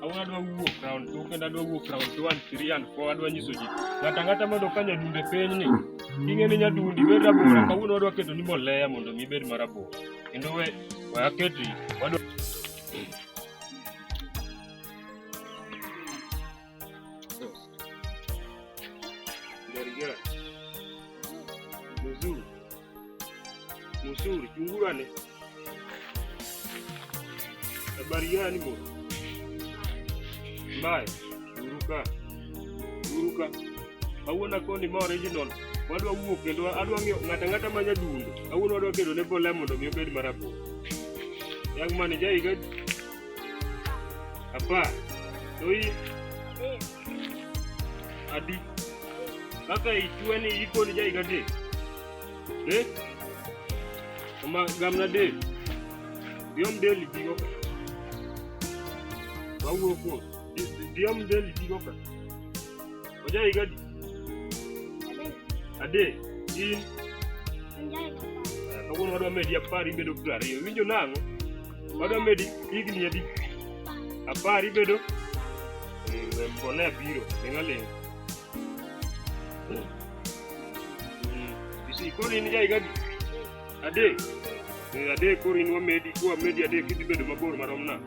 Awuono adwa wuok round two kendo adwa wuok round two and three and four adwa nyiso ji ng'ato ang'ata mondo ka nyadunde piny ni ing'e ni nyadundi bed rabora kawuono wadwa keto ni mbolea mondo mi bed marabora kendo we we aketi wadwa Gerigera. Mzuri. Mzuri, chungurane. Habari gani bwana? Mbaya. Uruka. Uruka. Awuona koni ma original. Wadwa wuok kendo adwa ng'eyo ng'ata ng'ata ma nyadundo. Awuona wadwa kendo ne bola mondo mi obed marabora. Yang mane jaiga Apa, doi adi kaka ichwe ni iko ni jaiga de de ma gamna de diom del digo ka bawo ko diom del digo ka ojaiga di ade in kawuono wadwa medi apar ibedo piero ariyo winjo nang'o Madwa medi higni adi? Apar ibedo? Eh, Mbona abiro, ling' aling'. Isi, koro in ja higa adi? Adek? Eh, Adek koro in wamedi, kwamedi adek idhi bedo mabor marom na.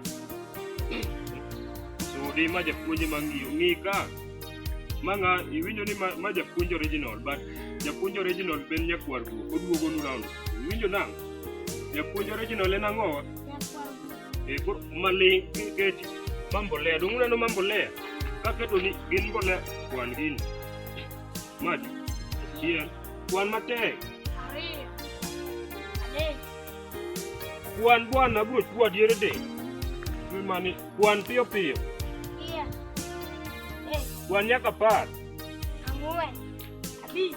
Sudi ma japuonje ma ng'iyo, ng'i ka. Ma ng'a, iwinjo ni ma, ma japuonj original, but japuonj original ben nyakwar guok, oduogo nu round. Iwinjo nang'? Japuonj original en ang'o? Eh, koro maling keti ma mbolea dong uneno ma mbolea kaketo ni gin mbolea kwan gini maji achiel kwan matek kwan bwana abro chwa diere de mani kwan piyo piyo kwan nyaka par ang'wen abich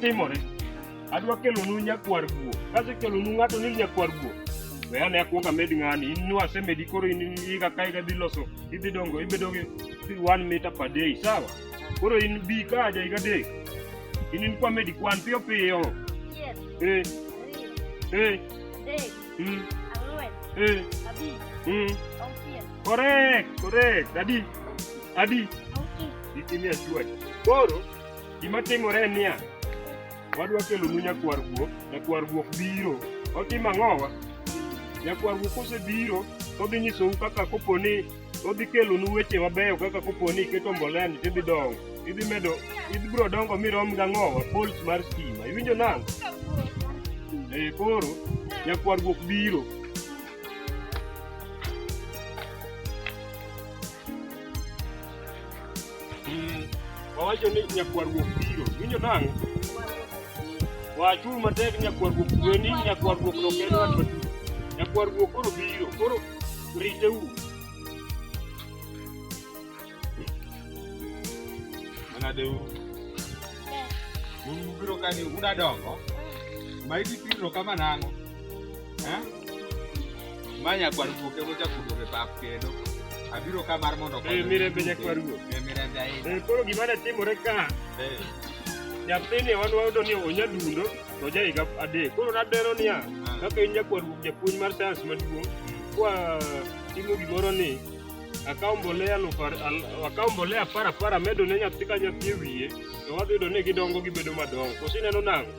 Timore. Adwa kelonu nyakwar guo. Kasekelonu ng'ato ni nyakwar guo. We ane akwong amed ng'ani. In nu asemedi koro in iga ka iga dhi loso. Idhi dongo ibedo gi gi one meter per day. Sawa? Koro in bi ka aja iga dek. In in kwa medi kwan piyo piyo. Achiel, Eh, ariyo, eh, adek, mm, ang'wen, eh, abich, mm. auchiel, Correct, correct. Adi, adi. auchich. Ikimi achuoch. Koro Gima timore en niya, wadwa kelonu nyakwar guok, nyakwar guok biro. Otimo ang'owa? Nyakwar guok kosebiro, odhi nyisou kaka kopo ni odhi kelonu weche mabeyo kaka kopo ni iketo mbolea ni tidhi dongo. Idhi medo, idhi biro dongo mirom gang'owa, poles mar stima. Iwinjo nang'? E koro, nyakwar guok biro. Mm. Wawacho ni nyakwaruok biro. Winjo nang'? Wachung' matek nyakwaruok kweni, nyakwaruok ok en wach maduong'. Nyakwaruok koro biro. Koro riteuru. Manadeuru. Un ubiro kani udadongo. Ma idhi piro kama nang'o? ma nyakwar guok ema ochakudo e pap kendo abiro ka mar mondo eh, mirembe nyakwar guok eh, mirembe ahinya eh, koro gima ne timore ka nyathini wan wayudo ni onya dundo to ja higa adek koro nadero niya ah. kaka in nyakwar guok japuonj mar sayans maduong' hmm. kwa timo gimoro ni akawo mbolea akawo mbolea apar apar amedo ne nyathi ka nyathi e wiye to wadhi yudo ni gidongo gibedo madongo koso ineno nang'o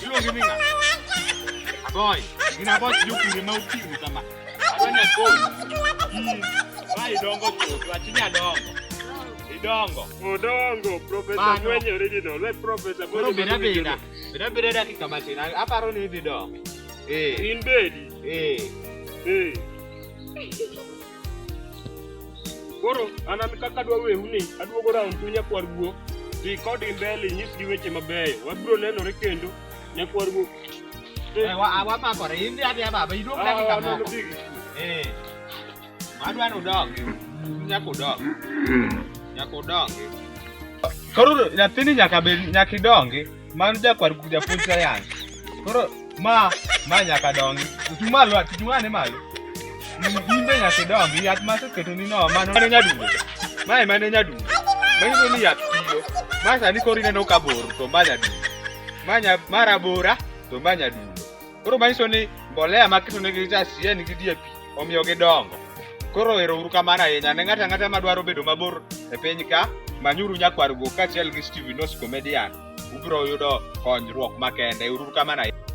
Sio mimi na. Boy, ina boy yuko ni mauti ni kama. Afanya kwa. Bai dongo tu, achinya dongo. Idongo. Udongo, profesa Mano. mwenye original. We profesa Koro mwenye beda original. beda. Beda beda dakika matin. Aparo ni idhi dongo. Eh, In bed. eh. Eh. Koro an an kaka adwa wehu ni aduogo round tu nyakwar guok dhi kodgi mbele inyisgi weche mabeyo wabiro nenore kendo nyakwar guok Eh, wa- ah, wamakore in dhi adhiya baba iduog Ah, dakika mano moko big. Eh, adwa ni udog nyaka udog nyaka udongi koro nyathini nyaka bed nyaka idongi Mano jakwar japuonj sayans. Koro ma ma nyaka dongi. Chung' malo, chung' ane malo. In be nyaka idongi, yath ma aseketoni no, mano mano nyadundo. Mae mano nyadundo. Manyiso ni yath tiyo. Ma sani koro ineno ka bor to ma nyadundo. Ma nya- ma rabora to ma nyadundo. Koro manyiso ni mbolea maketonegi cha si en gi DAP omiyo gidongo. Koro ero uru kamano ahinya ne ng'ato ang'ata madwaro bedo mabor e piny ka manyuru nyakwar go kaachiel gi Steven Os Comedian ubiro yudo konyruok makende. Uru kamano ahinya.